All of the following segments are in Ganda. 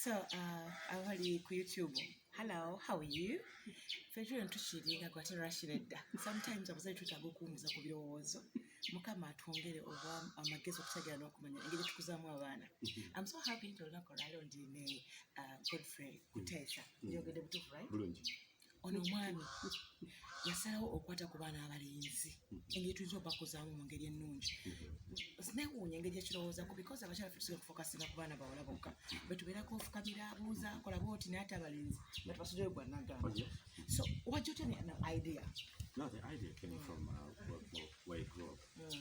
so uh, abali ku youtube hello how are you fetule ntukiringa gwate rashira edda sometimes abazali twetaaga okuwumuza ku birowoozo mukama atwongere oba amagezi okutegeera n'okumanya engeri tukuzaamu abaana mm-hmm. am so happy nti olunaku olwaleo ndi ne uh, godfrey kuteesa mm-hmm. yogedde butuufu right ono omwami yasalawo okukwata ku baana abalenzi engeri tuyinza obakuzaamu mu ngeri ennungi sinewuunya engeri ekirowoozaku because abakyala fe tusobola okufokasinga ku baana bawala bokka betubeerako ofukamira abuuza akola booti naye ate abalenzi batubasudeyo gwanagamba so wajja otya ne idea No, the idea came from uh, where, where I grew up. Mm.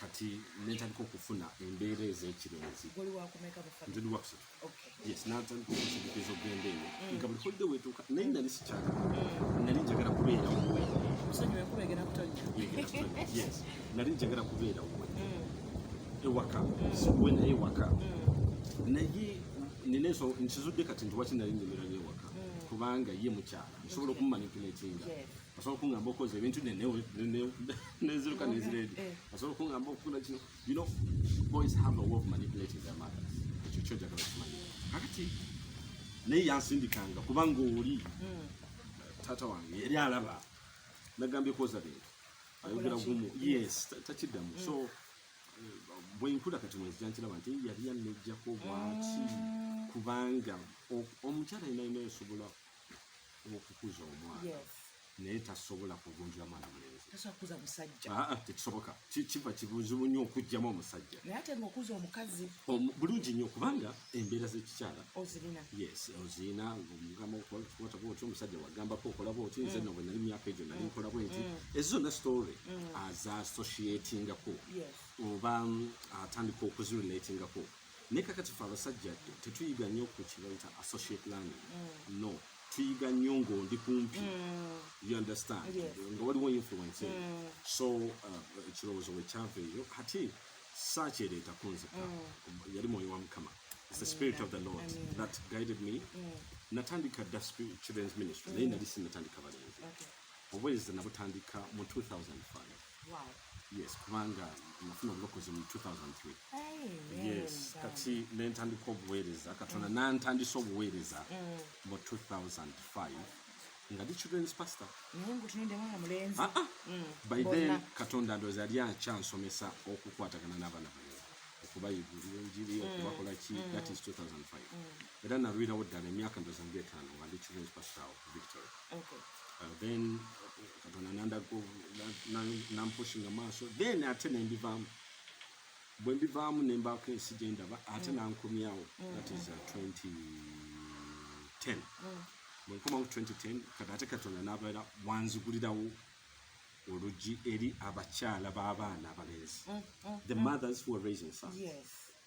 kati netandika okufuna embeera ez'ekirenzi ntidi wakusatu yes natandika okusidikiza okugenda eyo mm. nga buli holide wetuuka naye nali sikyaka mm. nali njagala kubeera wuwe yes nali njagala kubeera wuwe mm. ewaka siwe naye ewaka naye nina enso nkizudde kati nti waki nali njemeranyo ewaka kubanga ye mukyala nsobola okumumanipuletinga asobola okungamba okoza ebintu neziruka neziredi eh. asobola okungamba okukula kino you know boys have a way of manipulating their mothers ekyo kyo njagala okimanya kakati naye yansindikanga kubanga oli hmm. taata wange yali alaba nagambye kwoza bintu ayogera gumu yes takiddamu so hmm. bwenkula kati mwezi jankiraba nti yali yanejjako bwaki hmm. kubanga omukyala yenayina esobola okukuza omwana naye tasobola kugunjula mwana mulenzikisoboka ah, ah, kiva kibuzibu nnyo okugjamu omusajja bulungi nnyo kubanga embeera zekikyala ozirina omugambaoty omusajja wagambako okola bwoti nze mm. nobwe nali myaka egyo nali mm. nkola bwenti mm. ezo zonna story aza associatingako oba mm, atandika okuzirelatingako naye kakati fe abasajja tetuyiga nnyo ku kibaita associate learning mm. no tuyiga nnyo ng'ondi kumpi mm. you understand nga waliwo influence mm. so uh, ekirowoozo we kyava eyo kati saakyereeta kunzika yali mwoyo wa mukama It's the spirit of the Lord Amen. that guided me. Mm. Natandika the spirit children's ministry. Mm. Naye nali sinatandika balenzi. Okay. Obwezi nabutandika mu 2005. yes kubanga nafuna obulokozi mu 2003 yes kati nentandika obuweereza katonda mm. nantandisa obuweereza mm. mu 2005 nga ndi children's pastor ah, ah. Mm. by then katonda ndozi yali akyansomesa okukwatagana n'abaana bayo okubayigulira enjiri okubakola ki that is 2005 era nalwirawo ddala emyaka ndozi nga etaano nga ndi children's pastor victory uh, then katonda nandaga nampushinga maaso then ate nembivaamu bwe mbivaamu nembaako ensi gyendaba ate mm. nankomyawo mm. that is 2010 uh, mm. bwe nkoma mu 2010 kati ate katonda nabeera wanzigulirawo oluggi eri abakyala b'abaana abalenzi the mothers who are raising sons yes.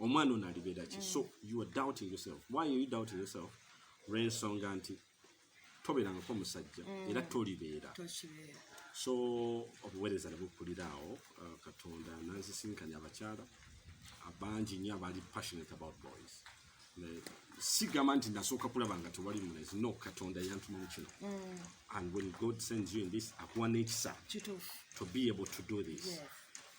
omwana ono alibeera ki so you are doubting yourself why are you doubting yourself lwensonga nti tobeerangako omusajja mm. era tolibeera so obuweereza ne bukuliraawo uh, katonda nanzisinkanya abakyala abangi nyo abali passionate about boys sigamba nti nasooka kulaba nga tewali mulezi no katonda yantuma mu kino mm. and when god sends you in this akuwa n'ekisa to be able to do this yes.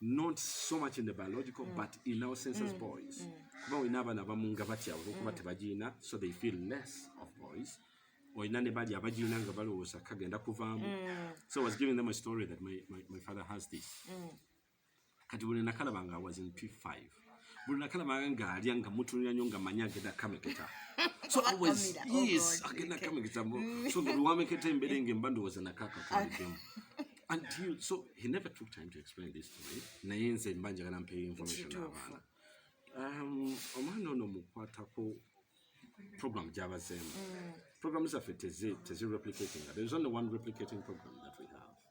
not so much in the biological mm. but in our senses mm. boys mm. kuba olina abaana abamu nga batya olwokuba mm. tebagiyina so they feel less of boys olina ne bali abagiyina nga balowooza kagenda kuvaamu mm. so I was giving them a story that my, my, my father has this mm. kati buli nakalaba nga was in p5 buli nakala manga ngaalya nga mutunira nyo nga manyi agenda kameketa so always oh yes agenda kameketa mm. so buli wameketa embere nga emba ndowooza nakaka tulikemu until so he never took time to explain this to me naye nze mba njagala mpeyo information abaana um, omwana ono mukwatako program gyabazeemu mm. program zaffe tezi replicating there is only one replicating program that we have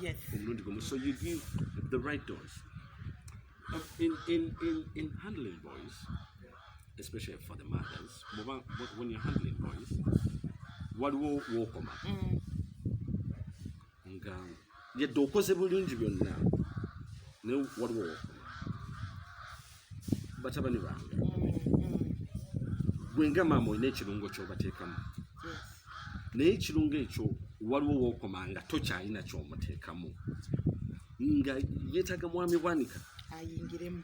Yes. omulundi gumu so you give the right dose Um, in, in, in, in handling boys especially for the mothers muba- wh- when you're handling boys waliwo wokoma Mm. nga yadde okoze bulungi byonna naye waliwo wokoma batabani bange mm, mm. gwe nga maama olina ekirungo kyobateekamu naye ekirungo ekyo waliwo wokoma nga tokyalina kyomuteekamu nga yetaga mwami bwanika ayingiremu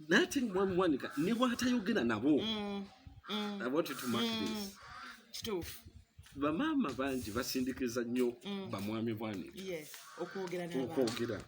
nate mwami bwanika ne bwatayogera nabo mm, kituufu bamaama bangi basindikiza nnyo bamwami bwanika okwogera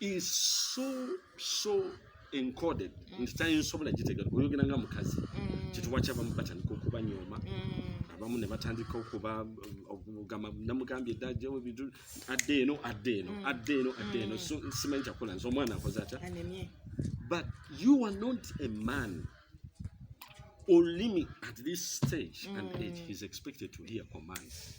is so so encoded mm. nti tayinsobola gitegera oyogera nga mukazi mm. kituwa kyabamu batandika okubanyooma mm. abamu ne batandika okuba okugamba namugambye edda jewe bidu adde eno adde eno adde eno adde eno so simanyi kyakola nze omwana akoze atya but you are not a man olimi at this stage and age is expected to hear commands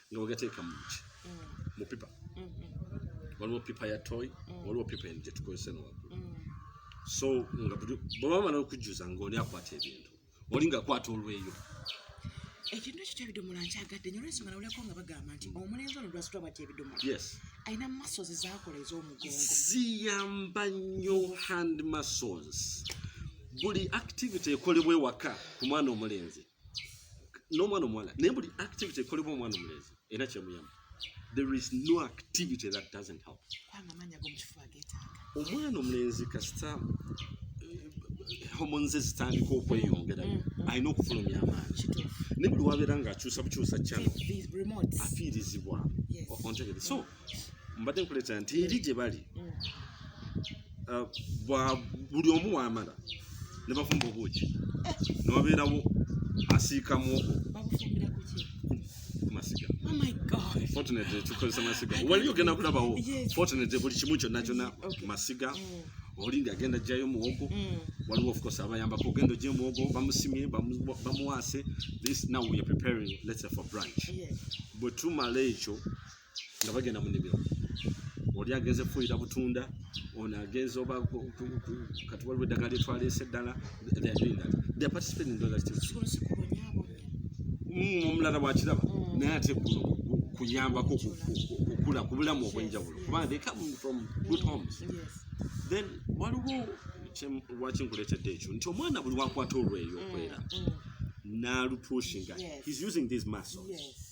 nga bagateeka muki mu pipa mm-hmm. waliwo pipa ya toy mm. waliwo pipa en gyetukozesa nowagulu mm. so nga bwebamala okujjuza nga oli akwata ebintu oli nga akwata olweyo ekintu ekyo kyebidomola nkyagadde nyo lwensonga nawulirako nga bagamba nti mm. omulenzi ono lwasitwa bwati ebidomola alina muscles ezakola ez'omugongo ziyamba nnyo hand muscles buli activity ekolebwa ewaka ku mwana omulenzi n'omwana omuwala naye buli activity ekolebwa omwana omulenzi era kyemuyamba there is no activity that doesn't help omwana omulenzi kasita eh, homonze zitandika okweyongera mm, mm. alina okufulumya amaanyi naye buli wabeera ngaakyusa bukyusa kyano afiirizibwa ontegere so mbadde nkuleeta nti eri gye bali mm. uh, bwa buli omu wamala ne bafumba obuuki eh. newabeerawo asiika muoko kumasiga oh fortunate tukozesa masiga wali ogenda kulabawo fortunate buli kimu kyonna kyonna masiga mm. oli ngagenda jjayo muwogo mm. waliwo of course abayambako ogenda ojje muwogo bamusimye bamuwaase this now we are preparing let's say for branch bwe tumala ekyo nga bagenda mu nnimiro oli agenze kufuuyira butunda ono agenze oba kati waliwo eddagala lyetwaleese eddala mm, omulala wakiraba mm. naye ate kuno kuyambako okukula ku bulamu obwenjawulo kubanga they come from good homes then waliwo lwaki nkuleetedde ekyo nti omwana buli wakwata olweyo okwera mm, naalupuushinga he's using these muscles yes.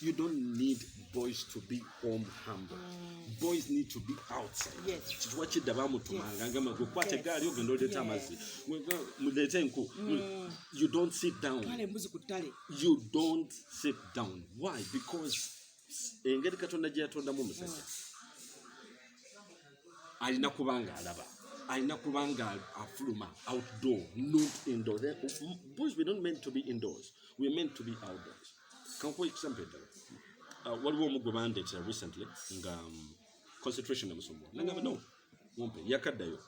You don't need boys to be home humble. Mm. Boys need to be outside. Yes. Chituwa chida bamu tumanga ngama kwa kwa tegari yogi ndo leta mazi. Mudete nku. Mm. You don't sit down. Kale mbuzi kutale. You don't sit down. Why? Because engeri katonda gye yatondamu omusajja alina kuba nga alaba alina kuba nga afuluma outdoor not indoor boys we don't meant to be indoors we meant to be outdoors kankuwa ekisambo eddala uh, waliwo omu gwe bandeetera recently nga um, concentration emusumbuwa nangamba no mumpe yakaddayo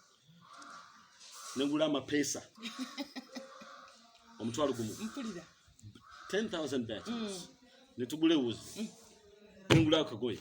nengula amapeesa omutwalo gumu 10000 batons mm. netugula ewuzi mm. nengula akagoye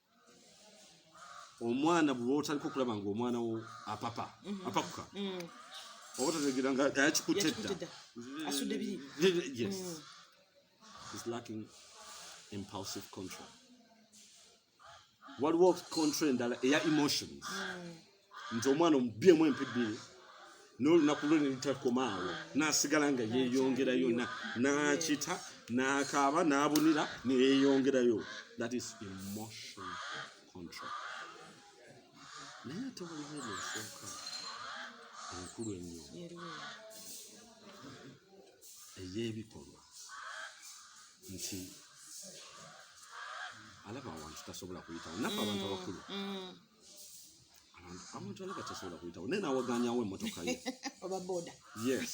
omwana bwe otaliko okulaba nga omwana wo apapa mhm. apakuka mm. oba otategeera nga yakikutte dda asudde biri yes mm. is lacking impulsive control waliwo control endala eya emotions mm. nze omwana omubyemu empi bbiri n'olunaku lwe nelitakomaawo n'asigala nga yeeyongerayo n'akita n'akaaba n'abunira neyeeyongerayo that is emotion control naye ate waliwo eno ensooka enkulu ennyo ey'ebikolwa nti alaba awantu tasobola kuyitawo nafe abantu abakulu mm, mm. abantu alaba tasobola kuyitawo naye nawaganyawo emotoka ye oba boda yes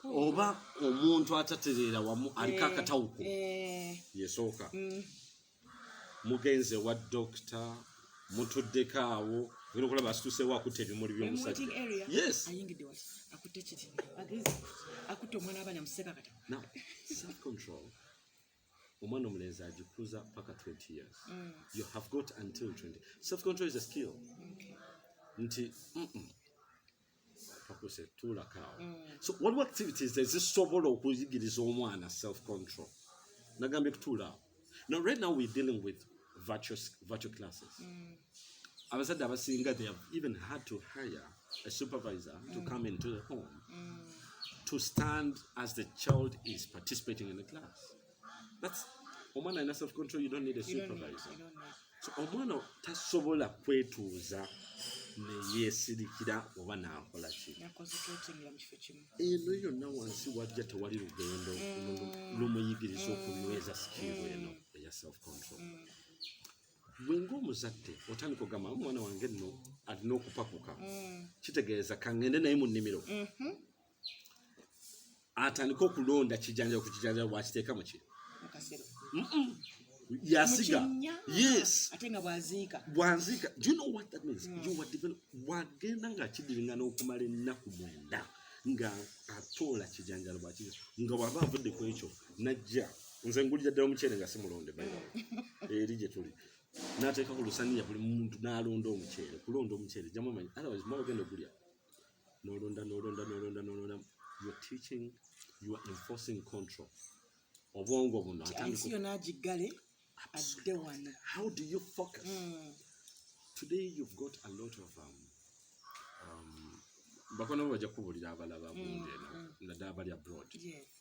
oba omuntu atatereera wamu aliko eh, akatawuko eh. yesooka mm. mugenze wa dokita mutuddeko awo era okulaba asituseewo akutte ebimuli by'omusajja yes akutte omwana abaana museka kati self control omwana omulenzi agikuza paka 20 years mm. you have got until 20 self control is a skill okay. nti mm -mm. kakuse tulakaawo mm. so waliwo activities ezisobola okuyigiriza omwana self control nagambye kutuulaawo now right now we're dealing with virtual, virtual classes mm. abazadde abasinga they have even had to hire a supervisor mm. to come into the home mm. to stand as the child is participating in the class that's omwana alina self control you don't need a supervisor so omwana tasobola kwetuuza neyesirikira oba nakola ki eno yonna wansi wajja tewali lugendo mm. lumuyigiriza okunyweza sikiiru eno mm. eya self control mm. gwe ng'omuzadde otandika ogamba omwana wange nno alina okupakuka mm. kitegeeza kangende naye mu nnimiro mm-hmm. atandike okulonda kijanjalo ku kijanjalo bwakiteeka muki yasiga yes ate nga bwaziika bwaziika do you know what that means mm. you were develop wagenda nga kidiringa n'okumala ennaku mwenda nga atoola kijanjalo bwakiteeka nga waba avudde ku ekyo najja mm. nze ngulira ddala omuceere nga simulonde eri gye tuli nateeka ku lusaniya buli muntu n'alonda omuceere kulonda omuceere jjamu amanyi otherwise mwa ogenda ogulya nolonda nolonda nolonda nolonda you're teaching you are enforcing control obwongo buno ensi yona agiggale adde wano how do you focus mm. today you've got a lot of um, um, bakono bajja kubulira abalaba mm, bungi eno mm. naddala bali abroad yes.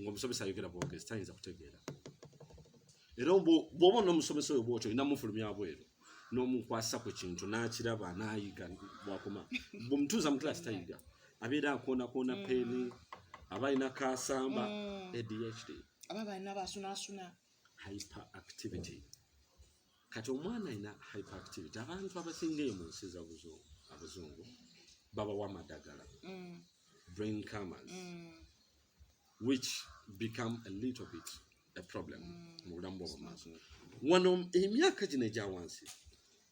ng'omusomesa ayogera bwogezi tayinza kutegeera era bw'oba n'omusomesa oyo bwotyo olina mufulumya bweru n'omukwasa ku kintu n'akiraba n'ayiga bwakoma bwemutuuza mu kilaasi tayiga abeera akoonakoona mm. peeni aba alina kasamba mm. adhd aba balina basunasuna hyper activity kati omwana alina hyperactivity abantu abasinga eyo mu nsi abazungu babawa amadagala mm. brain camas mm. which become a little bit a problem mm. mu bulamu bwobumaaso wano emyaka gino egya wansi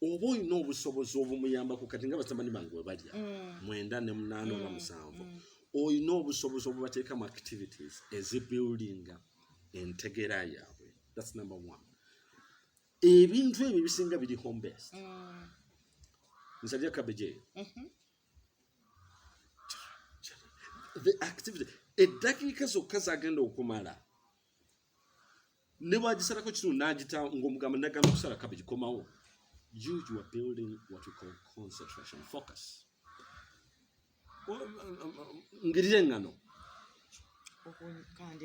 oba olina obusobozi obumuyambako kati nga basamani bange webalya mm. mwenda ne munaana oba mm. musanvu mm. olina obusobozi obubateekamu activities ezibuildinga entegeera yaabwe that's number one ebintu ebyo ebisinga biri home based mm. nsalya cabbage eyo mm-hmm. the activity eddakiika zokka zagenda okumala ne bwagisalako kino nagita ngaomugamba nagamba okusala cabbage komawo you you are building what we call concentration focus ngirira engano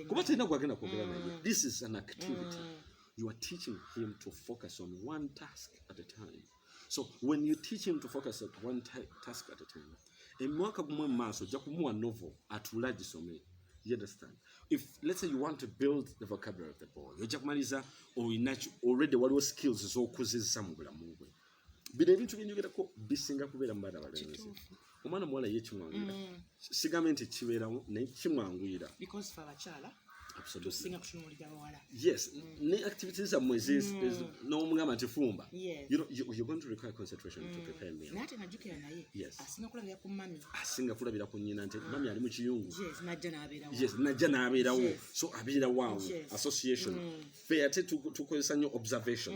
kuba talina gwagenda kwogera naye mm. this is an activity mm. you are teaching him to focus on one task at a time so when you teach him to focus on one task at a time emwaka gumu emumaaso ojja kumuwa novel atuule agisome you understand if let's say you want to build the vocabulary of the boy ojja kumaliza olina already waliwo skills z'okuzizza mu bulamu bwe bino ebintu byenjogerako bisinga kubeera mu baana balenzi omwana muwala ye kimwanguyira mm. sigambe nti kibeerawo naye kimwanguyira yes mm. ne activity zammwe mm. nomugamba nti fumba asinga kulabira ku nyina nti ah. mami ali mu kiyungu yes najja n'abeerawo so abeera waawo association fe ate tukozesa nnyo observation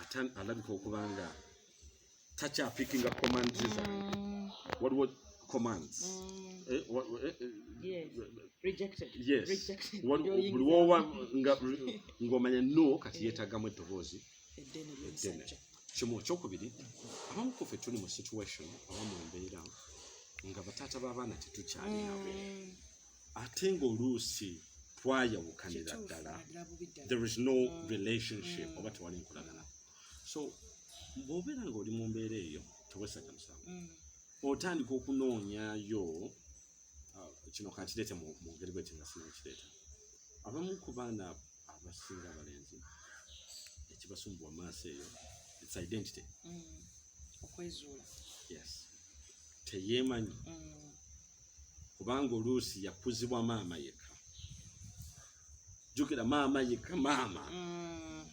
ate alabika okuba nga takyapikinga commands zange mm. waliwo commands mm. eh, eh, eh, buli wowa ng'omanya no kati yeetagamu eddoboozi eddene kimu okyokubiri abamu kufe tuli mu situation abamu embeera nga bataata b'abaana tetukyali nabo mm. ate ng'oluusi twayawukanira ddala there is no mm. relationship mm. oba tewali nkolagana so bw'obeera ng'oli mu mbeera eyo tewesaja musango mm. otandika okunoonyayo uh, kino kankireete mu ngeri bweti nga sinakireeta abamu ku baana abasinga abalenzi ekibasumbuwa maaso eyo its identity okwezuula yes teyeemanyi kubanga oluusi yakuzibwa maama yekka jukira maama yekka maama mm.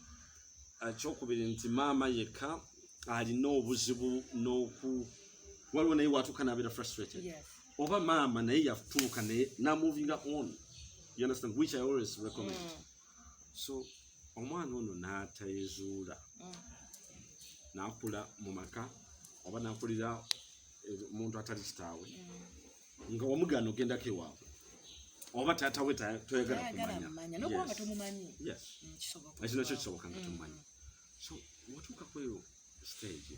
akyokubiri ah, nti maama yekka alina obuzibu noku waliwo naye watuuka nabeera frustrated yes. oba maama naye yatuuka naye namovinga on you understand which i always recommend mm. so omwana ono n'atayezuula mm. n'akula mu maka oba n'akulira eh, omuntu atali kitaawe mm. nga wamugaana ogendako ewaabwe oba taata we toyagala kumanya ekyo nakyo kisoboka nga mm. tomumanyi so watuuka kweyo stage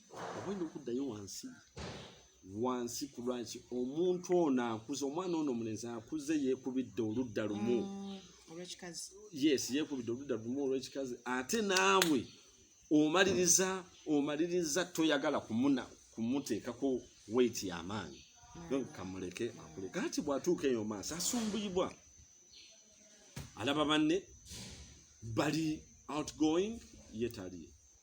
obalina okuddayo wansi wansi ku lwaki omuntu ono akuze omwana ono omulenzi akuze yeekubidde oludda lumu mm, yes yeekubidde oludda lumu olwekikazi ate naawe omaliriza omaliriza toyagala kumuna kumuteekako weiti yamaanyi mm. kamuleke akule kati bwatuuka eyo maaso asumbuyibwa alaba banne bali outgoing yetaliye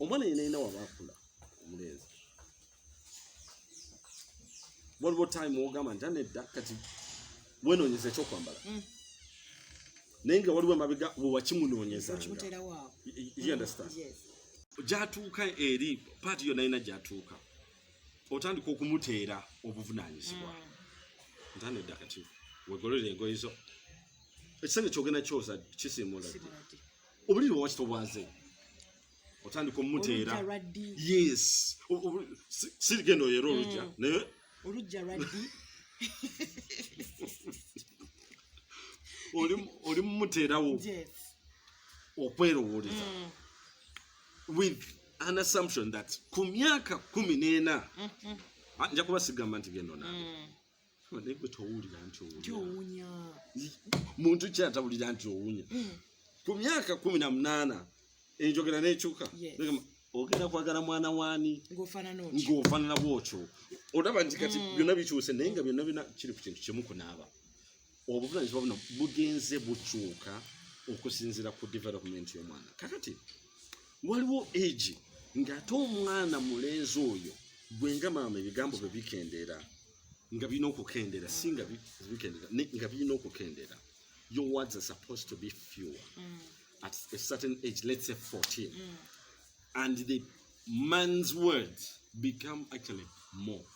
omwana yena yena waba akula omulenzi waliwo time ogamba nti anedda kati wenonyeza ekyokwambala mm. naye nga waliwo emabega wewakimunonyezangyatuuka eri paati yo nayina gyatuuka otandika okumuteera obuvunanyizibwa mm. nti anedda kati wegolera engoye zo ekisenge kyogenda kyoza kisimuula obuliri wawakita obwaze otandika omuteera yes sirigenda oyera olujja mm. naye olujja lwaddi oli mumuteerawo okwerowoleza mm. with an assumption that ku myaka kumi n'ena mm-hmm. ah, nja kuba sigamba nti byenonabe mm. naye gwe towulira nti owunya muntu ki atawulira nti owunya hmm. ku myaka kumi na munaana enjogera n'ekyuka ogenda kwagala mwana waani ng'ofaanana bwotyo olaba nti kati hmm. byonna bikyuse naye nga byonna bina kiri ku kintu kimu kunaaba obuvunaanyizibwa buno bugenze bukyuka okusinziira ku development y'omwana kakati waliwo egi ng'ate omwana mulenzi oyo gwe nga maama ebigambo bye bikendeera nga birina okukendeera si nga bikendeera nga birina okukendeera your words are supposed to be fewer mm. at a certain age let's say 14 mm. and the man's words become actually more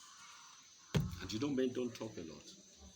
and you don't men don't talk a lot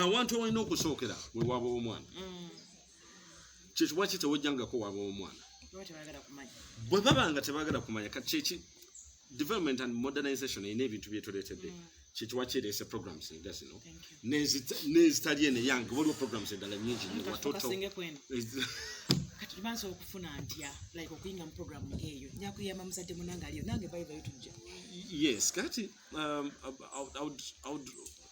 awantu ewalina okusookera we waaba w'omwana mm. kyekibwa ki tewojjangako waaba w'omwana bwe baba nga tebaagala kumanya kyeki development and modernization erina ebintu byetuleetedde mm. kyekiwa kireese programs nga zino n'ezitali eno eyange waliwo programs endala nyingi watoto bansobola okufuna ntya like okuyinga mu program ngeeyo nyakuyamba muzadde munange aliyo nange bayibayo tujja yes kati um, I would, I would,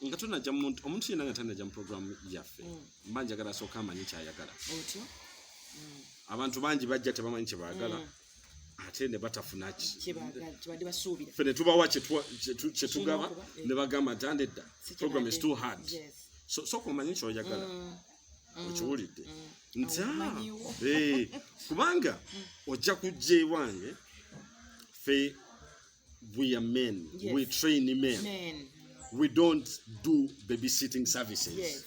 nga tunaja muntu omuntu yena nga tanaja mu program yaffe mm. mba njagala asooka amanyi kyayagala mm. abantu bangi bajja tebamanyi kyebagala mm. ate ne batafuna kiffe ne tubawa kyetugaba eh. ne bagamba nti ande dda program is too hard sooka omanyi kyoyagala okiwulidde nti ah, eh, kubanga ojja kujja ewange fe we are men yes. we train men, men we don't do babysitting services yes.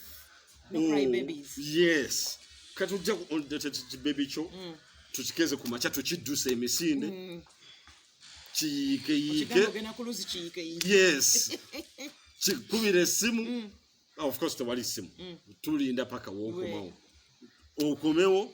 No oh, cry babies. yes kati ojja kibebi kyo mm. tukikeze ku makya tukiddusa emisinde mm. kiyiikeyiike yes kikubira essimu mm. ah, of course tewali ssimu tulinda paka wokomawo okomewo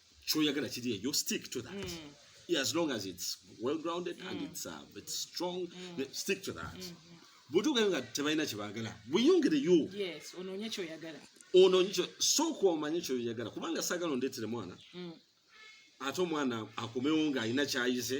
kyoyagala kiri eyo stick to that mm. yeah, as long as it's well grounded mm. and it's, uh, it's strong mm. stick to that mm -hmm. bwetugayo nga tebalina kyebagala buyongereyo onoonye kyoyagala onoonye kyo sooka omanye kyoyagala kubanga saagala ondeetere mwana mm. ate omwana akomewo ng'alina kyayize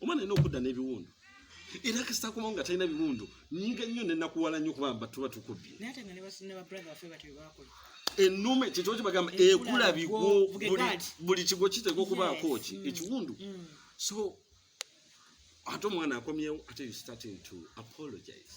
omwana alina okudda n'ebiwundu era kasita akomawo nga talina biwundu nyiga nnyo nenakuwala nnyo kuba mba tuba tukubbye enume kyekyo kibagamba ekula bigwo buli kigwo kiteeka okubaako ki mm. ekiwundu mm. so ate omwana akomyewo ate you starting to apologize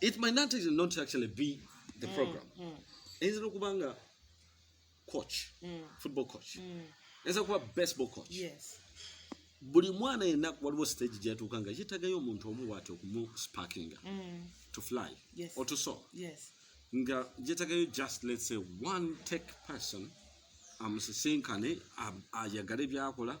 it might not, not actually be the mm, program mm. eyinza nokuba nga coach mm. football coach mm. eyinza kuba baseball coach yes. buli mwana yenna waliwo stage gyatuuka nga yetagayo omuntu omu waati okumusparkinga mm. to fly yes. or to saw yes. nga yetagayo just let's say one tech person amusisinkane ayagale byakola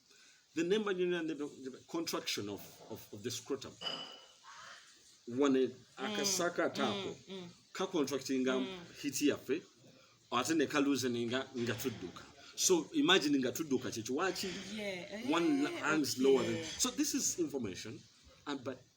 The name and the, the contraction of, of, of the scrotum. One mm. akasaka mm, tako mm, mm. ka contracting mm. hiti yafe ate ne ka loosening nga nga tudduka. So imagine nga tudduka kyekiwaki yeah. one eh, lungs lower than. So this is information and but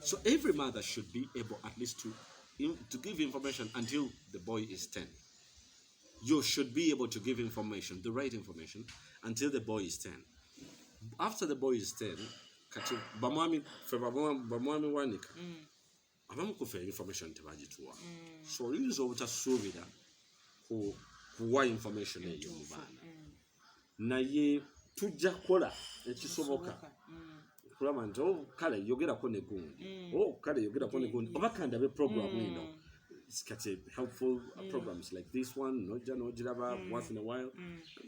So every mother should be able at least to, to give information until the boy is 10. You should be able to give information, the right information, until the boy is 10. After the boy is 10, kati bamwami fe bamwami wanika mm. abamu kufe information tebagituwa mm. so oyinza obutasuubira kuwa information eyo mu baana naye tujja kukola ekisoboka okulaba mm. nti oh, kale yogerako negundi mm. oh, kale yogerako negundi oba kandabe programu mm. eno kati helpful uh, programs like this one noja nogiraba once in a while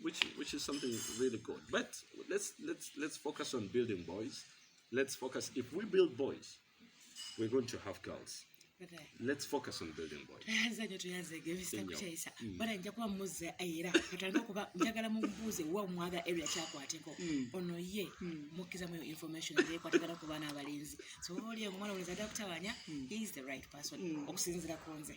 which, which is something really good but let's, let's, let's focus on building boys let's focus if we build boys We're going to have girls. Let's focus on building boys. Anza nyo tuyaze ge Mr. Kuchaisa. Mm. Bana nja kuwa muze ayira. Katanga kuba njagala mumbuze wa mwaga area cha kwa atiko. Mm. Ono ye mm. mukiza mwe information ye kwa atiko kuba na abalinzi. So oli omwana uliza doctor wanya, he is the right person. Okusinzira konze.